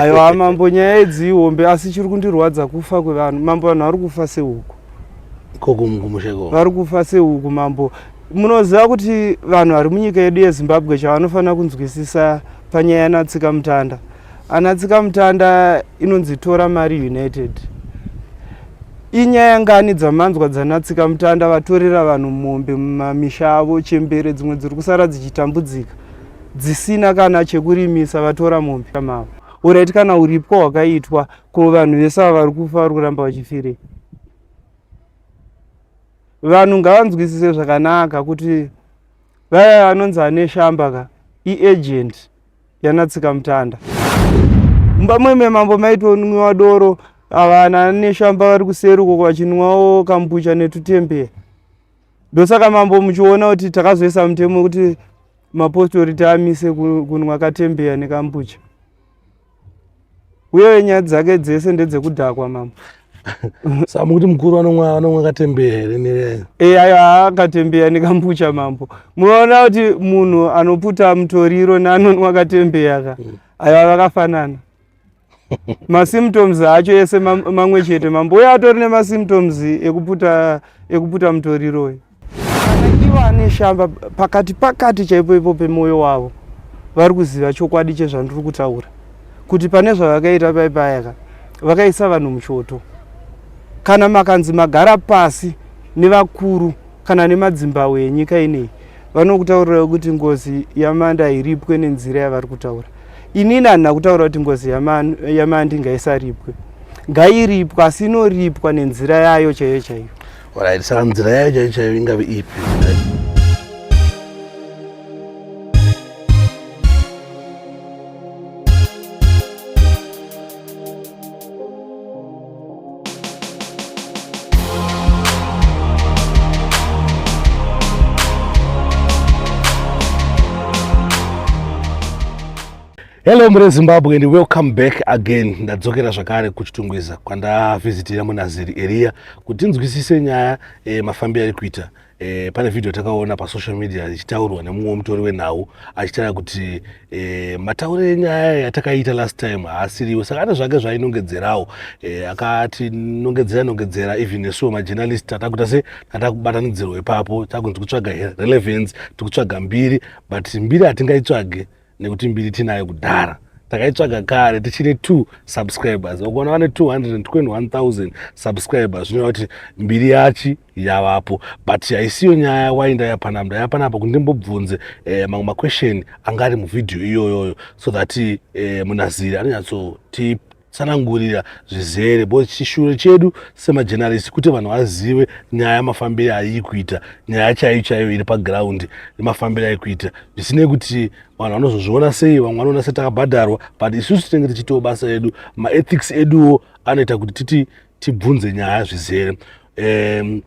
aiwa mambo nyaya idzi ihombe asi chiri kundirwadza kufa kwevanhu mambo vanhu vari kufa sehuku vari kufa sehuku mambo munoziva kuti vanhu vari munyika yedu yezimbabwe chavanofanira kunzwisisa panyaya yanatsika mutanda anatsika mutanda inonzi tora mari united inyaya ngani dzamanzwa dzanatsika mutanda vatorera vanhu mombe mumamisha avo chembere dzimwe dziri kusara dzichitambudzika dzisina kana chekurimisa vatora mombe mavo urit kana uripwa wakaitwa ko vanhu vese ava vari kufa vari kuramba vachifirei vanhu ngavanzwisise zvakanaka kuti vaya anonzi ane shamba ka iagent yanatsika mutanda mumba mweme mambo maitonwiwa doro avana neshamba vari kuseri ukoko vachinwawo kambucha netutembere ndosaka mambo muchiona kuti takazoisa mutemo wekuti mapostori tiamise kunwa katembeya nekambucha uye nyaya dzake dzese ndedzekudhakwa mambo sa mukuti mukuru anomwa anomwa katembeya here nereyo e ayo haakatembeya nekambucha mambo munoona kuti munhu anoputa mutoriro neanonwa katembeya ka mm. ayo avakafanana masymptoms acho ese mamwe chete mambo uye atori nemasymptoms ekuputa ekuputa mutoriro uyu vanakiva ane shamba pakati pakati chaipo ipo pemwoyo wavo vari kuziva chokwadi chezvandiri kutaura kuti pane zvavakaita paipayaka vakaisa vanhu muchoto kana makanzi magara pasi nevakuru kana nemadzimbawo enyika ineyi vanokutaurira kuti ngozi yamanda iripwe nenzira yavari kutaura inini handina kutaura kuti ngozi yamandi ngaisaripwe ngairipwa asi inoripwa nenzira yayo chaiyo chaiyo orit saka nzira yayo chaiyo chaiyo ingave ipi hello mure zimbabwe and welcome back again ndadzokera zvakare kuchitungwiza kwandavhizitira munaziri eriya kuti tinzwisise nyaya e, mafambiro ari kuita eh, pane vhidhiyo takaona pasocial media ichitaurwa nemumwe mutori wenhau achitaura kuti eh, mataure enyaya yatakaita last time haasiriwo saka ane zvake zvainongedzerawo eh, akati nongedzera nongedzera even nesuwo majournalist tatakuita se tatakubatanidzirwa ipapo takunzi kutsvaga relevance tikutsvaga mbiri but mbiri hatingaitsvage nekuti mbiri tinayo kudhara takaitsvaga kare tichine two subscribers vakuona vane 221000 subscribers zvinoreva kuti mbiri yachi yavapo but haisiyo nyaya wai ndayapana ndayapana apa kuti ndimbobvunze eh, mamwe maquestion anga ari muvhidhiyo iyoyoyo so that eh, munaziri anonyatsotipa tsanangurira zvizere bo chishure chedu semajenarisi kuti vanhu vazive nyaya mafambire aii kuita nyaya chaiyo chaiyo iri pagraundi nemafambire ai kuita zvisinei kuti vanhu vanozozviona sei vamwe vanoona se takabhadharwa but isusu tinenge tichiitawo basa edu maethics eduwo anoita kuti titi tibvunze nyaya zvizere um,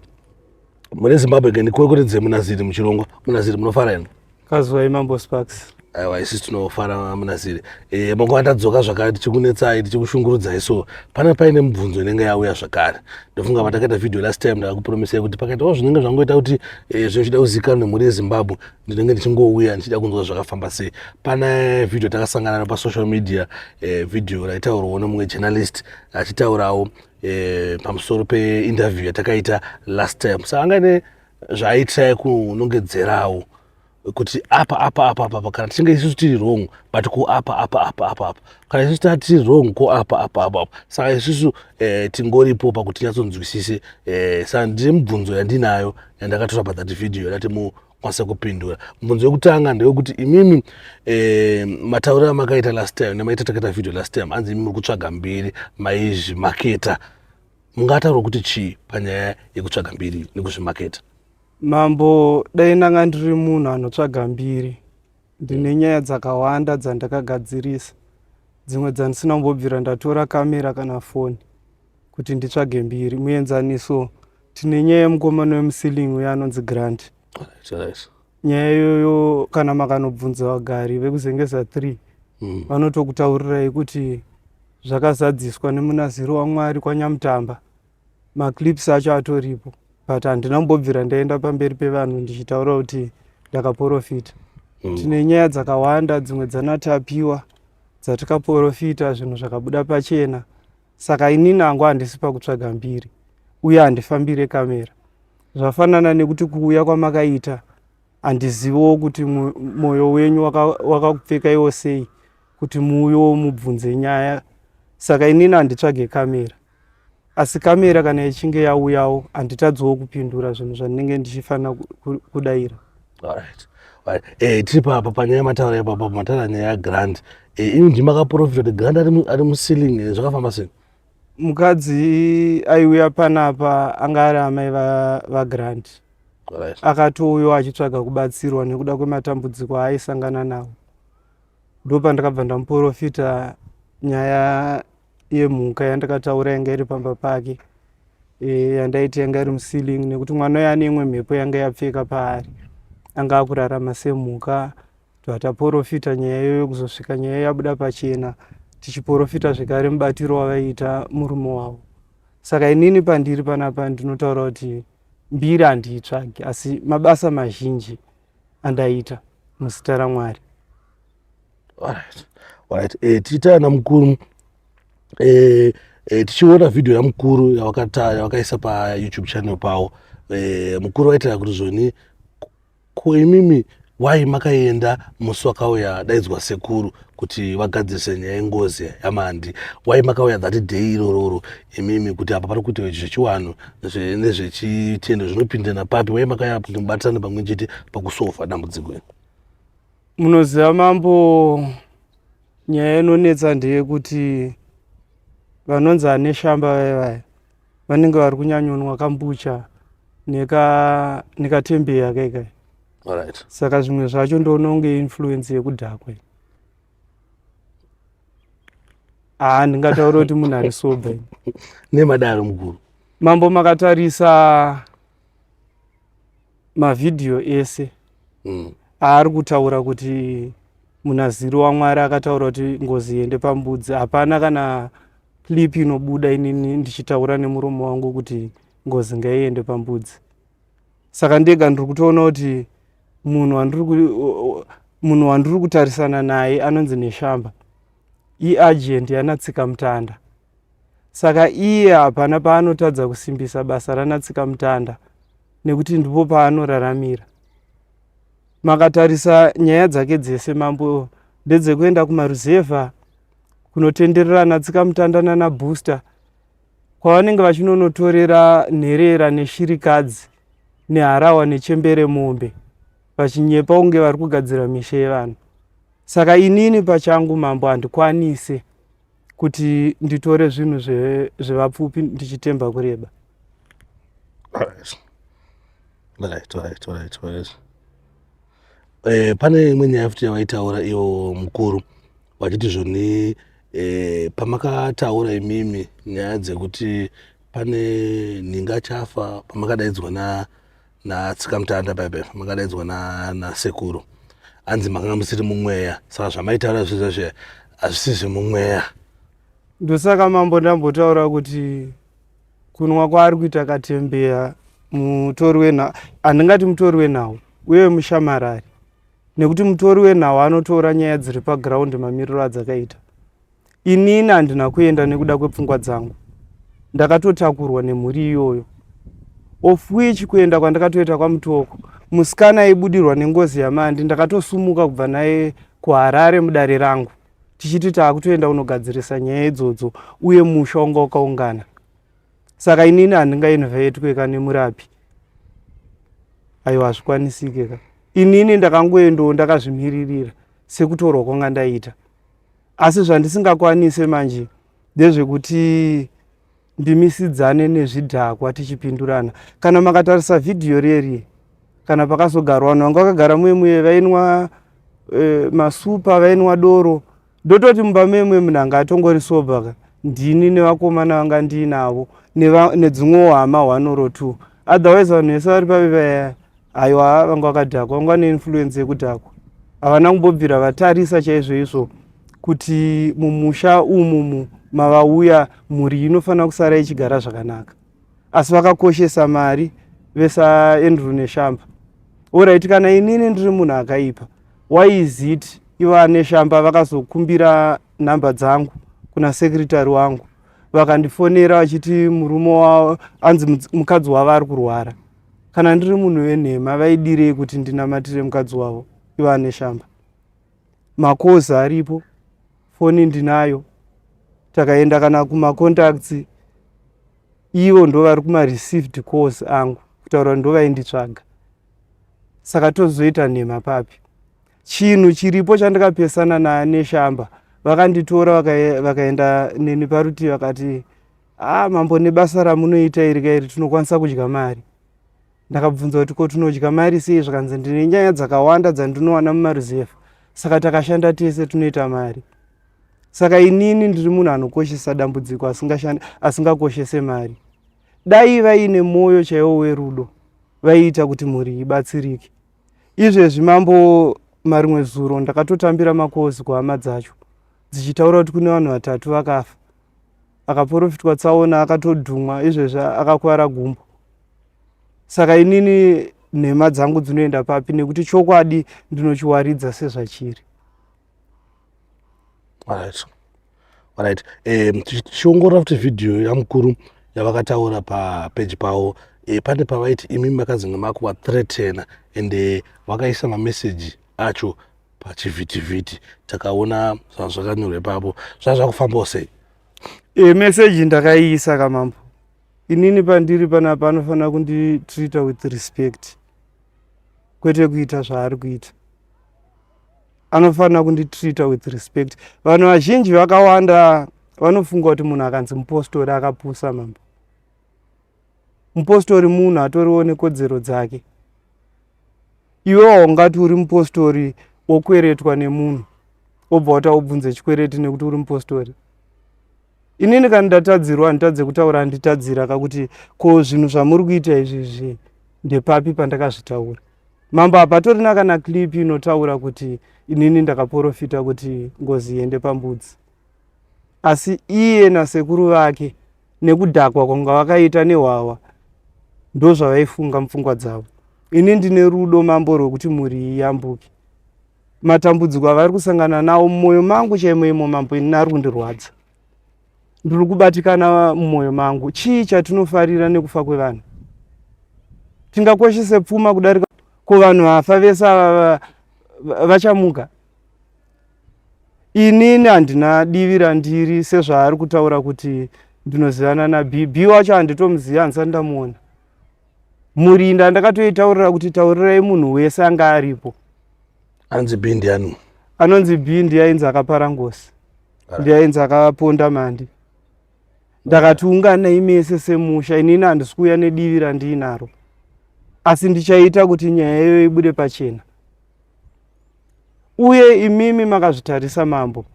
mune zimbabwe ke ndikureketedze munaziri muchirongwa munaziri munofara ino kazwai mambo sparks aiwa isi tinofara munaziri e, eh, manguva tadzoka zvakare tichikunetsai tichikushungurudzai so pane paine mibvunzo inenge yauya zvakare ndofunga patakaita video last time ndakakupromesai kuti pakaitawo zvinenge zvangoita kuti e, eh, zvinochida kuzivikanwa nemhuri yezimbabwe ndinenge ndichingouya ndichida kunzwa zvakafamba sei pane video takasangana no pasocial media e, video raitaurwawo nemumwe journalist achitaurawo eh, pamusoro peinterview yatakaita last time sa anga ine zvaaiitirai kunongedzerawo kuti apa apa apa apa kana tichinge isusu tiri wrong but ko apa apa apa apa apa kana isusu taa tiri wrong ko apa apa apa apa saka isusu eh, tingoripo pakuti tinyatsonzwisise eh, saka ndine mubvunzo yandinayo yandakatora pathat video yandati kwanisa kupindura mubvunzo wekutanga ndewekuti imimi eh, matauriro amakaita last time nemaita takaita video last time hanzi imimi muri kutsvaga mbiri maizvimaketa mungataura kuti chii panyaya yekutsvaga mbiri nekuzvimaketa mambo dai ndanga ndiri munhu anotsvaga mbiri ndine mm. nyaya dzakawanda dzandakagadzirisa dzimwe dzandisina kumbobvira ndatora kamera kana foni kuti nditsvage mbiri muenzaniso tine nyaya yemukomana wemusiling uye anonzi grant nyaya iyoyo kana makanobvunza vagari vekuzengeza three mm. vanotokutaurirai kuti zvakazadziswa nemunaziri wamwari kwanyamutamba maclips acho atoripo but handina kumbobvira ndaenda pamberi pevanhu ndichitaura kuti ndakaporofita mm. tine nyaya dzakawanda dzimwe dzanatapiwa dzatikaporofita zvinhu zvakabuda pachena saka inini angu handisi pakutsvaga mbiri uye handifambire kamera zvafanana nekuti kuuya kwamakaita handiziviwo kuti mwoyo wenyu wakakupfekaiwo waka sei kuti muuyo mubvunze nyaya saka inini handitsvage kamera asi kamera kana ichinge yauyawo handitadziwo kupindura zvinhu zvandinenge ndichifanira kudaira Alright. Alright. Eh, tiri pa pa panyaya mataura ya baba mataura nyaya ya grant. Eh, ini ndima ka profit kuti grant ari mu- ari mu ceiling eh, zvakafamba sei? mukadzi aiuya panapa anga ari amai va- vagrant Alright. akatouyawo achitsvaga kubatsirwa nekuda kwematambudziko aaisangana nawo ndopandakabva ndamuporofita nyaya iye mhuka yandakataura yanga iri pamba pake e, yandaiti yanga iri muceiling nekuti mwana uyo ane imwe mhepo yanga yapfeka paari anga akurarama semhuka tataporofita nyaya iyo yokuzosvika nyaya yabuda pachena tichiporofita zvekare mubatiro wavaiita murume wavo saka inini pandiri panapa ndinotaura kuti mbiri handiitsvagi asi mabasa mazhinji andaita muzita ramwari Alright. Alright. Eh, tichitaya namukuru eh, eh, tichiona video yamukuru yavakaisa payoutube channel pawo eh, mukuru vaitira kuti zvoni ko imimi wai makaenda musi wakauya daidzwa sekuru kuti vagadzirise nyaya yengozi yamandi wai makauya that day irororo imimi kuti apa pari kuita zvechiwanhu nezvechitendo zvinopindana papi wai makauya kuti mubatisane pamwe chete pakusofa dambudziko iri munoziva mambo nyaya inonetsa ndeyekuti vanonzi ane shamba vaye vaya vanenge vari kunyanyonwa kambucha nekatembeyi neka akaikai right. saka zvimwe zvacho ndoona kunge influence yekudhakwe haa ndingataura kuti munhu ari sobe nemadaro mukuru mambo makatarisa mavhidhiyo ese mm. aari kutaura kuti munaziri wamwari akataura kuti ngozi iende pambudzi hapana kana clip inobuda inini ndichitaura nemuromo wangu kuti ngozi ngaiende pambudzi saka ndega ndiri kutoona kuti munhu wandiri kutarisana naye anonzi neshamba iagent yanatsika mutanda Saka iye hapana paanotadza kusimbisa basa ranatsikamutanda nekuti ndipo paanoraramira. Makatarisa nyaya dzake dzese mambo ndedzekuenda kumaruzevha kunotenderera natsikamutanda nana booster kwavanenge vachinonotorera nherera neshirikadzi neharawa nechembere mombe vachinyepa kunge vari kugadzira misha yevanhu saka inini pachangu mambo handikwanise kuti nditore zvinhu zvevapfupi ndichitemba kureba eh, pane imwe nyaya futi yawaitaura iwo mukuru vachiti zvoni eh, pamakataura imimi nyaya dzekuti pane nhinga chafa pamakadaidzwa na natsikamutanda bebe makadaidzwa nasekuru na hanzi makanga musiri mumweya saka zvamaitaura zviza zve hazvisi zvemumweya ndosaka mambo ndambotaura kuti kunwa kwaari kuita katembeya mutori wenhau handingati mutori wenhau uye mushamarari nekuti mutori wenhau anotora nyaya dziri paground mamiriro adzakaita inini handina kuenda nekuda kwepfungwa dzangu ndakatotakurwa nemhuri iyoyo of which kuenda kwandakatoita kwamutoko musikana aibudirwa nengozi yamandi ndakatosumuka kubva naye kuharare mudare rangu tichiti taakutoenda kunogadzirisa nyaya idzodzo uye musha wanga wakaungana saka inini handingainvetwe ka nemurapi aiwa hazvikwanisike ka inini ndakangoendawo ndakazvimiririra sekutorwa kwanga ndaita asi zvandisingakwanise manje ndezvekuti ndimisidzane nezvidhakwa tichipindurana kana makatarisa vhidhiyo rierie kana pakazogarwa vanhu vanga vakagara muye muye vainwa e, masupa vainwa doro ndototi mumba muye muye munhu anga atongori sober ka ndini nevakomana vanga ndiinavo nedzimwewo hama hwanoro two otherwise vanhu vese vari pave vayaya aiwa vanga vakadhakwa vanga vane influence yekudhakwa havana kumbobvira vatarisa chaizvoizvo kuti mumusha umumu mavauya mhuri inofanira kusara ichigara zvakanaka asi vakakoshesa mari vesaendrew neshamba orit kana inini ndiri munhu akaipa why is it iva neshamba vakazokumbira nhamba dzangu kuna sekretary wangu vakandifonera vachiti murume anzi mukadzi wavo ari kurwara Kana ndiri munhu venhema vaidirei kuti ndinamatire mukadzi wavo iva ane shamba? Makozi aripo, foni ndinayo, takaenda kana kumacontacts ivo ndovari kumareceived course angu kutaura kuti ndovainditsvaga saka tozoita nhema papi chinhu chiripo chandikapesana neshamba vakanditora vakaenda neni parutivi vakati Haa mambo nebasa ramunoita iri ka iri tinokwanisa kudya mari. Ndakabvunza kuti ko tinodya mari sei zvakanzi ndine nyaya dzakawanda dzandinowana mumaruzevha saka takashanda tese tinoita mari. Saka inini ndiri munhu anokoshesa dambudziko asingakoshese mari. Dai vaine mwoyo chaiwo werudo vaiita kuti mhuri ibatsirike. Izvezvi mambo marimwe zuro ndakatotambira makozi kuhama dzacho dzichitaura kuti kune vanhu vatatu vakafa akaporofitwa tsaona akatodhumwa izvezvi akakwara gumbo saka inini nhema dzangu dzinoenda papi nekuti chokwadi ndinochiwaridza sezvachiri right. right. um, tichiongorora futi vhidhiyo yamukuru yavakataura papeji pavo e, pane pavaiti imi makazinge makuvathreatena ende vakaisa mameseji acho pachivhitivhiti takaona zvanga zvakanyorwa ipapo zvanga zvakufambawo sei e meseji ndakaiisa kamambo inini pandiri panapa anofanira kunditreata with respect kwete kuita zvaari kuita anofanira kunditreata with respect vanhu vazhinji vakawanda vanofunga kuti munhu akanzi mupostori akapusa mambo mupostori munhu atoriwo nekodzero dzake iwe waungati uri mupostori wokweretwa nemunhu wobva wata ubvunze chikwereti nekuti uri mupostori inini kana ndatadzirwa handitadze kutaura handitadzira kakuti ko zvinhu zvamuri kuita izvi zvi ndepapi pandakazvitaura mambo hapatorina kana clip inotaura kuti inini ndakaporofita kuti ngozi iende pambudzi asi iye nasekuru vake nekudhakwa kwanga vakaita nehwawa ndozvavaifunga mupfungwa dzavo ini ndine rudo mambo rwekuti mhuri iyi yambuke matambudziko avari kusangana nawo mumwoyo mangu chaimo imo mambo ini ari kundirwadza ndiri kubatikana mumwoyo mangu chii chatinofarira nekufa kwevanhu tingakoshese pfuma kudarika ko vanhu vafa vese ava vachamuka inini handina divi randiri sezvaari kutaura kuti ndinozivana nabhb wacho handitomuziva handisati ndamuona murinda ndakatoitaurira kuti taurirai munhu wese anga aripo anonzi b ndiani anonzi b ndiyainzi akapara ngosi ndiyainzi akaponda mandi ndakati unganai mese semusha inini handisi kuuya nedivi randiinaro asi ndichaita kuti nyaya iyoyo ibude pachena uye imimi makazvitarisa mambo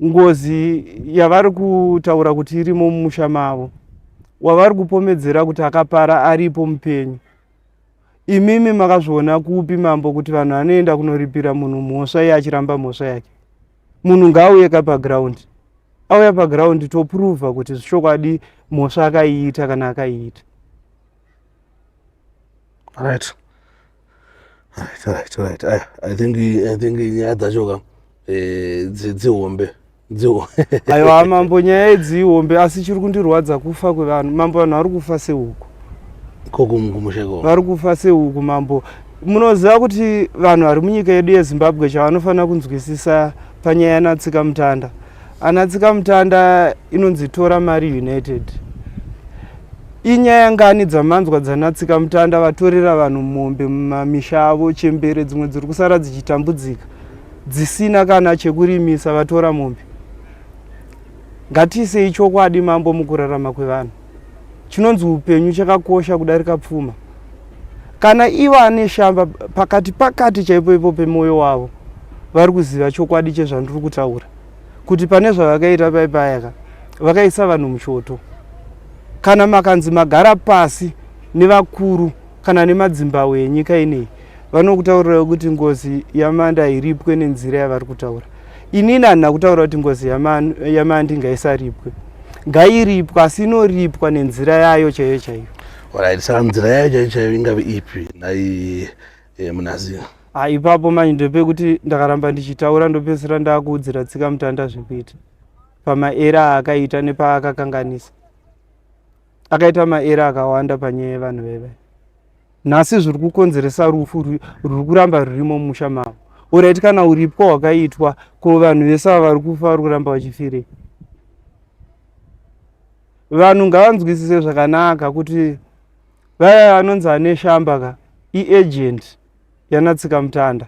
ngozi yavari kutaura kuti irimo mumusha mavo wavari kupomedzera kuti akapara aripo mupenyu imimi makazviona kupi mambo kuti vanhu vanoenda kunoripira munhu mhosva iye achiramba mhosva yake munhu ngaauye ka paground auya paground topruvha kuti zvichokwadi mhosva akaiita kana akaiita right right right right i, I think i think nyaya dzacho ka eh, dzihombe aiwa mambo nyaya idzi ihombe asi chiri kundirwadza kufa kwevanhu mambo vanhu vari kufa seuku vari kufa seuku mambo munoziva kuti vanhu vari munyika yedu yezimbabwe chavanofanira kunzwisisa panyaya yanatsika mutanda ana tsikamutanda inonzi tora mari united inyaya ngani dzamanzwa dzana tsikamutanda vatorera vanhu mombe mumamisha avo chembere dzimwe dziri kusara dzichitambudzika dzisina kana chekurimisa vatora mombe ngatiisei chokwadi mambo mukurarama kwevanhu chinonzi upenyu chakakosha kudarika pfuma kana ivo ane shamba pakati pakati chaipo ipo pemwoyo wavo vari kuziva chokwadi chezvandiri kutaura kuti pane zvavakaita paipayaka vakaisa vanhu muchoto kana makanzi magara pasi nevakuru kana nemadzimbahwe enyika ineyi vanokutaurira kuti ngozi yamanda iripwe nenzira yavari kutaura inini handina kutaura kuti ngozi yamandi ngaisaripwe ngairipwa asi inoripwa nenzira yayo chaiyo chaiyo orit saka nzira yayo chaiyo chaiyo ingave ipi nai eh, munazira ah, ipapo mani ndopekuti ndakaramba ndichitaura ndopedzisira ndakuudzira tsika mutanda zvekuita pamaera aakaita nepaakakanganisa akaita maera akawanda panyaya yevanhu veve nhasi zviri kukonzeresa rufu ruri kuramba rurimo mumusha mavo orit kana uripwa hwakaitwa ko vanhu vese ava vari kufa vari kuramba vachifirei vanhu ngavanzwisise zvakanaka kuti vaya anonzi ane shamba ka iagent yanatsika mutanda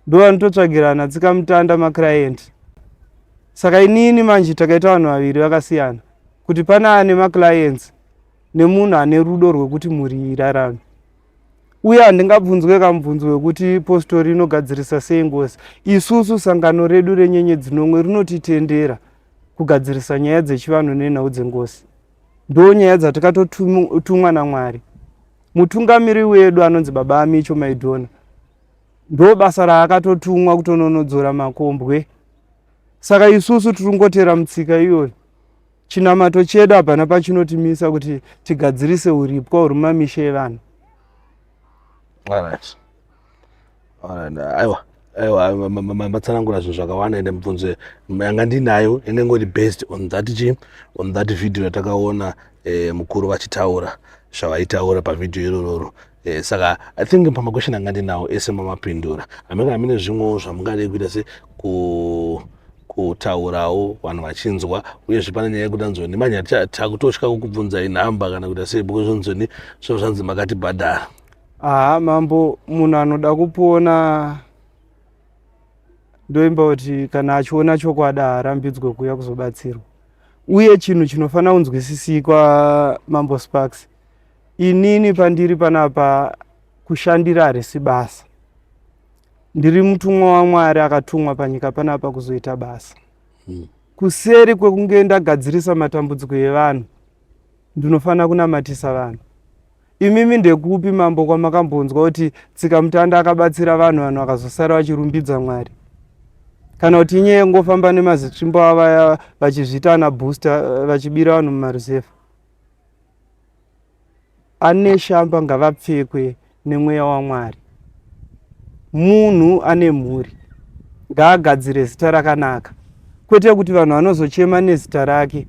ndo vanototsvagira anatsika mutanda maclienti saka inini manje takaita vanhu vaviri vakasiyana kuti pane ane maclients nemunhu ane rudo rwekuti mhuri irarame uye handingabvunzwe kamubvunzo wekuti postori inogadzirisa sei ngozi isusu sangano redu renyenye dzinomwe rinotitendera kugadzirisa nyaya dzechivanhu nenhau dzengozi ndo nyaya dzatikatotumwa namwari mutungamiri wedu anonzi baba amicho maidhona ndo basa raakatotumwa kutononodzora makombwe saka isusu tiri kungotera mutsika iyoyo chinamato chedu hapana pachinotimisa kuti tigadzirise uripwa huri mumamisha evanhu aiwa aiwa matsanangura zvinhu zvakawanda ende mibvunzo yanga ndinayo inenge ngori based on that chi on that video yatakaona eh, mukuru vachitaura zvavaitaura pavhidhiyo irororo Eh, saka i think pamakwesheni anga ndinawo ese mamapindura amene amene zvimwewo zvamungadei kuita se ku kutaurawo vanhu vachinzwa uyezve pane nyaya yekuti anzoni manya takutotya kukubvunzai nhamba kana kuita sei because anzoni zvinhu zvanzi makatibhadhara aha mambo munhu anoda kupona ndoimba kuti kana achiona chokwadi haarambidzwe kuuya kuzobatsirwa uye chinhu chinofanira kunzwisisikwa mambo sparks inini pandiri panapa kushandira harisi basa ndiri mutumwa wamwari akatumwa panyika panapa kuzoita basa hmm. kuseri kwekunge ndagadzirisa matambudziko evanhu ndinofanira kunamatisa vanhu imimi ndekupi mambo kwamakambonzwa kuti tsika mutanda akabatsira vanhu vanhu vakazosara vachirumbidza mwari kana kuti inyaya yekungofamba nemazitsvimbo avaya vachizviita ana booster vachibira vanhu mumaruzefa Ane shamba ngavapfekwe nemweya waMwari. Munhu ane mhuri ngaagadzire zita rakanaka, kwete kuti vanhu vanozochema nezita rake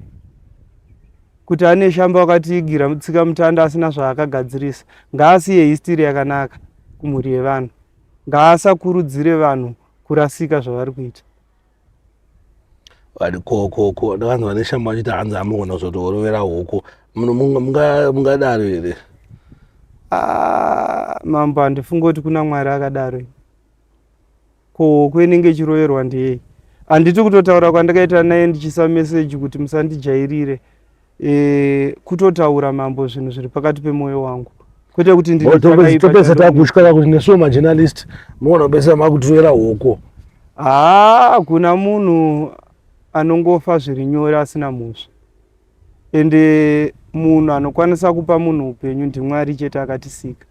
kuti ane shamba wakatiigira tsika mutanda asina zvaakagadzirisa. Ngaasiye histiri yakanaka kumhuri yevanhu, ngaasakurudzire vanhu kurasika zvavari kuita. vati ko ko ko ndakanzi vane shambo vachiti hanzi amugona kuzotorovera huku mungadaro here ah, mambo handifunga kuti kuna mwari akadaro ko huku inenge ichiroverwa ndiyei handiti kutotaura kwandakaita naye ndichisa meseji kuti musandijairire e, kutotaura mambo zvinhu zviri pakati pemoyo wangu kwete kuti nditopesa takutyaka kuti nesuwo majournalist muona kupesa makutiroera hoko haa ah, kuna munhu anongofa zviri nyore asina mhosva ende munhu anokwanisa kupa munhu upenyu ndimwari chete akatisika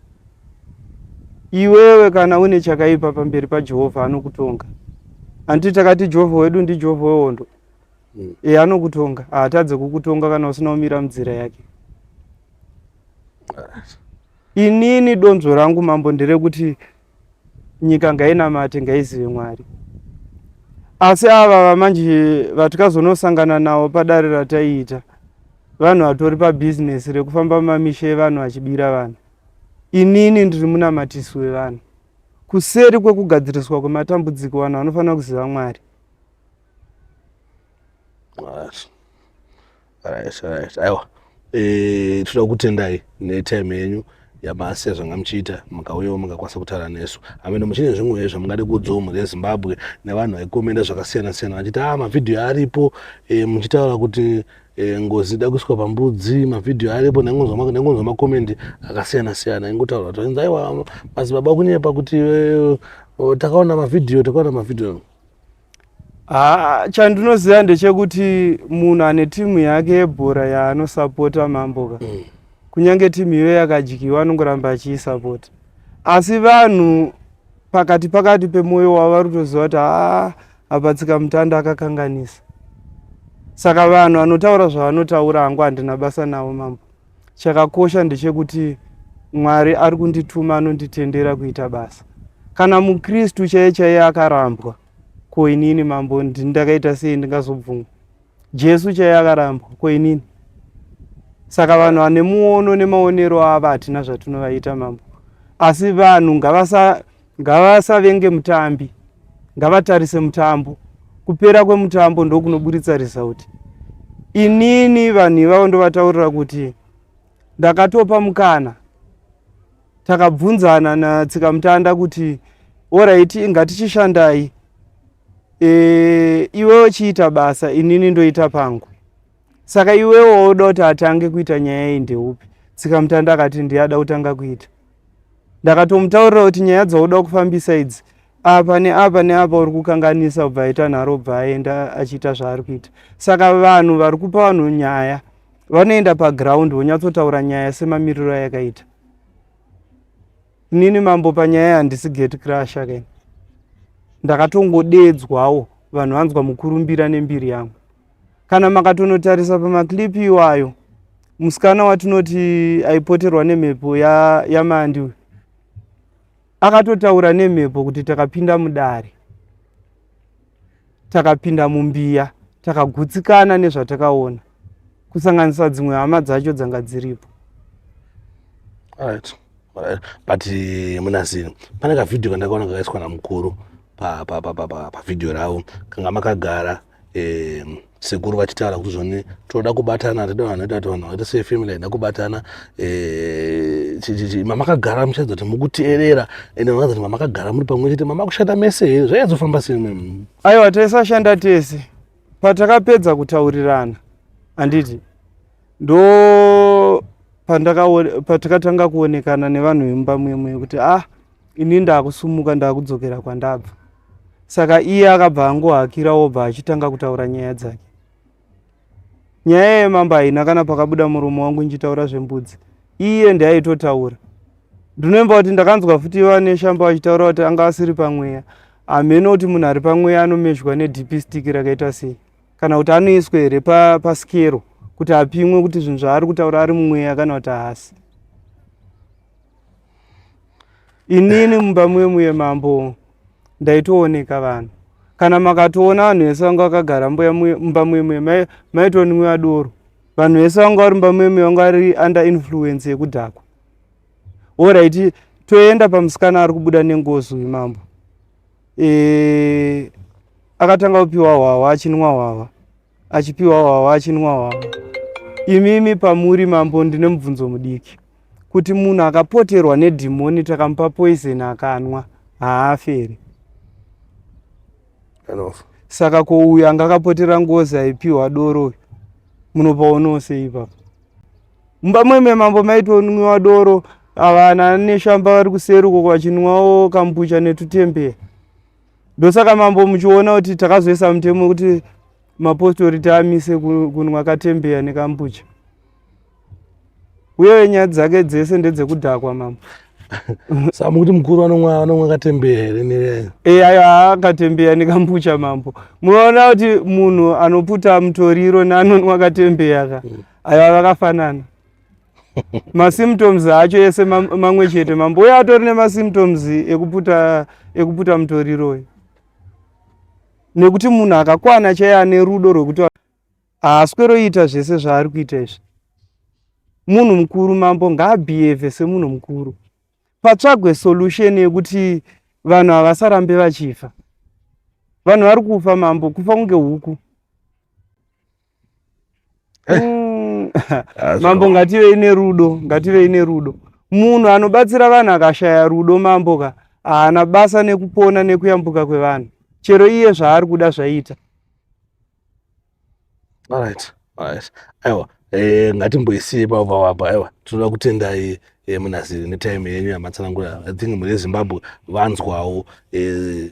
iwewe kana une chakaipa pamberi pajehovha anokutonga handiti takati jehovha wedu ndijehovha wehondo mm. e, anokutonga haatadze kukutonga kana usina kumira munzira yake inini donzvo rangu mambo nderekuti nyika ngainamate ngaizive mwari asi ava vamanje vatikazonosangana navo padare rataiita vanhu vatori pabhizinesi rekufamba mamisha evanhu vachibira vanhu inini ndiri munamatisi wevanhu kuseri kwekugadziriswa kwematambudziko vanhu vanofanira kuziva mwari right right aiwa eh tinoda kutendai netime yenyu yabasa zvanga muchiita mukauyawo mukakwanisa kutaura nesu amene muchine zvimwe zvamungade kuudzawo mhuri yezimbabwe nevanhu vaikomenda zvakasiyana siyana vachiti a ah, mavhidhiyo aripo e, muchitaura kuti e, ngozi ida kuiswa pambudzi mavhidhiyo aripo nengonzwa makomendi akasiyana siyana ingotaura kuti inzi aiwa madzibaba kunyepa kuti e, takaona mavhidhiyo takaona mavhidhiyo Haa chandinoziva ndechekuti munhu ane timu yake yebhora yaanosapota mambo ka mm. kunyange timu iyo yakadyiwa anongoramba achiisapota asi vanhu pakati pakati pemwoyo wavo vari kutoziva kuti haa apatsika mutanda akakanganisa saka vanhu vanotaura zvavanotaura hangu handina basa navo mambo Chakakosha ndechekuti Mwari ari kundituma anonditendera kuita basa. Kana muKristu chaiye chaiye akarambwa, ko inini mambo ndakaita sei ndingazobvumwa? Jesu chaiye akarambwa, ko inini? Saka vanhu vane muono nemaonero avo hatina zvatinovaita mambo. Asi vanhu ngavasa Ngavasavenge mutambi, ngavatarise mutambo. Kupera kwemutambo ndokunoburitsa result. Inini vanhu ivavo ndovataurira kuti ndakatopa mukana takabvunzana natsikamutanda kuti oraiti ngatichishandai e, iwe uchiita basa inini ndoita pangu Saka iwewo wauda kuti atange kuita nyaya iyi ndeupi? Tsikamutanda akati ndiye ada kutanga kuita. Ndakatomutaurira kuti nyaya dzauda kufambisa idzi apa neapa neapa uri kukanganisa ubva aita nharo ubva aenda achiita zvaari kuita saka vanhu vari kupa vanhu nyaya vanoenda paground vonyatsotaura nyaya semamiriro ayakaita inini mambo panyaya handisi gate crusher kani ndakatongodeedzwawo vanhu vanzwa mukurumbira nembiri yangu kana makatonotarisa pamaclip iwayo musikana watinoti aipoterwa nemhepo yamandi ya uyu akatotaura nemhepo kuti takapinda mudare takapinda mumbiya takagutsikana nezvatakaona kusanganisa dzimwe hama dzacho dzanga dziripo right. right. but eh, munasini pane kavhidhio kandakaona kakaiswa namukuru pavhidhio pa, pa, pa, pa, ravo kanga makagara pa, um sekuru vachitaura kuti zvoni tinoda kubatana hatida vanhu vaita kuti vanhu vaita sefamily haida kubatana eh, chichichi mamakagara muchaedza kuti mukuteerera ende vakaza kuti mamakagara muri pamwe chete mamakushanda mese here zvaiazofamba sene aiwa taisashanda tese patakapedza kutaurirana handiti ndo patakatanga kuonekana nevanhu vemumba mwemwe kuti ah ini ndakusumuka ndakudzokera kwandabva saka iye akabva angohakira obva achitanga kutaura nyaya dzake nyaya yemambo haina kana pakabuda murume wangu ndichitaura zvembudzi iye ndiaitotaura ndinomba kuti ndakanzwa futi vane shamba vachitaura kuti anga asiri pamweya hameno kuti munhu ari pamweya anomezhwa nedp stick rakaita sei kana kuti anoiswa here pasikero kuti apimwe kuti zvinhu zvaari kutaura ari mumweya kana kuti haasi inini mumba mwemuye mambo ndaitooneka vanhu kana makatoona vanhu vese vanga vakagara mumba mwemuye maitonwiwa doro vanhu vese vanga vari mumba mwemuye vanga vari under influence yekudhakwa orit toenda pamusikana ari kubuda nengozi uyu mambo e, akatanga kupiwa hwahwa achinwa hwahwa achipiwa wawa achinwa wawa imimi pamuri mambo ndine mubvunzo mudiki kuti munhu akapoterwa nedhimoni takamupa poison akanwa haafi here anofa saka ko uyu anga akapotera ngozi aipiwa doro uyu munopaonawo sei ipapo mumba mweme mambo maitonwiwa doro avana neshamba vari kuseri uko vachinwawo kambucha netutembeya ndosaka mambo muchiona kuti takazoisa mutemo wekuti mapostori tiamise kunwa katembeya nekambucha uye nyaya dzake dzese ndedzekudhakwa mambo sa mukuti mukuru anomwa anomwa katembeya here neayo e ayo haa katembeya nekambucha mambo munoona kuti munhu anoputa mutoriro neanonwa katembeya ka mm. ayo avakafanana masymptoms acho ese mamwe chete mambo uye atori nemasymptoms ekuputa ekuputa mutoriro uyu nekuti munhu akakwana chaiye ane rudo rwekuti haasweroita zvese zvaari kuita izvi munhu mukuru mambo ngaabhiyevhe semunhu mukuru patsvagwe solution yekuti vanhu havasarambe vachifa vanhu vari kufa mambo kufa kunge huku eh. mm. mambo ngativei nerudo ngativei nerudo munhu anobatsira vanhu akashaya rudo mambo ka haana basa nekupona nekuyambuka kwevanhu chero iye zvaari kuda zvaiita alright alright aiwa eh, ngatimboisiye pava wapa aiwa tinoda kutendai eh, munaziri netime yenyu yamatsanangura i think mune zimbabwe vanzwawo eh,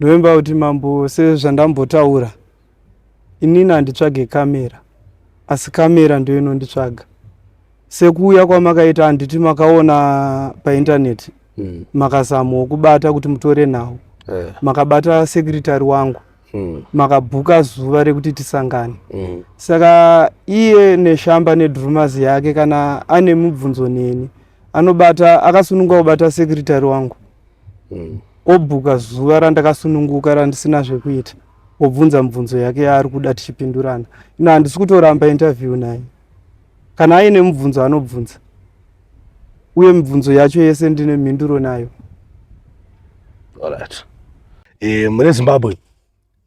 Ndoimba kuti mambo sezvandambotaura inini handitsvage kamera asi kamera ndiyo inonditsvaga sekuuya kwamakaita handiti makaona paintaneti mm. makazamwa kubata kuti mutore nhau yeah. makabata sekretary wangu mm. makabhuka zuva rekuti tisangane mm. saka iye neshamba nedrumas yake kana ane mubvunzo neni anobata akasununguka kubata sekretary wangu mm. obhuka zuva randakasununguka randisina zvekuita obvunza mubvunzo yake yaari kuda tichipindurana ino handisi kutoramba interview naye kana aine mubvunzo anobvunza uye mibvunzo yacho yese ndine mhinduro nayo e, mune zimbabwe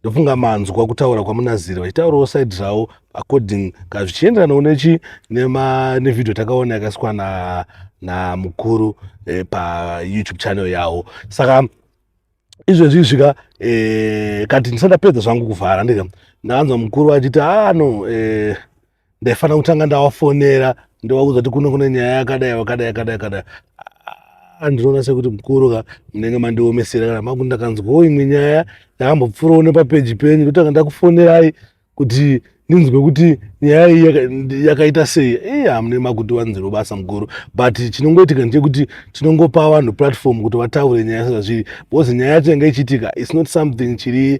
ndofunga manzwa kutaura kwamunaziri vachitaurawo side ravo according ka zvichienderanawo nechi nevideo takaona yakasikwa na namukuru eh, payoutube channel yavo saka izvezvi izvika eh, kati ndisati ndapedza zvangu kuvhara ndika ndakanzwa mukuru vachiti ah no eh, ndaifanira kutanga ndavafonera ndovaudza kuti kuno kune nyaya yakadai wakadai yakadai yakadai andinoona sekuti mukuru ka munenge mandiomesera kana makuti ndakanzwawo imwe nyaya yakambopfurawo nepapeji penyu ndotanga ndakufonerai kuti ndinzwe kuti nyaya iyi yakaita sei ii hamune makuti wanziro basa mukuru but chinongoitika ndechekuti tinongopa vanhu platform kuti vataure nyaya sezvazviri because nyaya yacho yanga ichiitika its not something chiri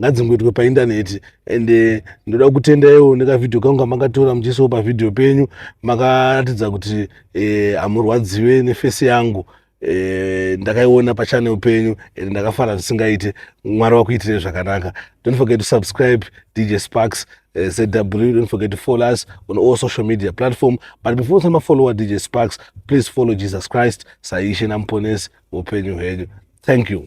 ngadzingoitwe paindaneti and eh, ndoda kutenda iwo nekavhidhiyo kangu kamakatora muchiisawo pavhidhiyo penyu makaratidza kuti eh, hamurwadziwe nefesi yangu eh, ndakaiona pachanel penyu and ndakafara zvisingaite mwari wakuitire zvakanaka don't forget to subscribe dj sparks Eh, zw don't forget to follow us on all social media platform but before usama follower dj sparks please follow jesus christ saishe namuponesi upenyu hwenyu thank you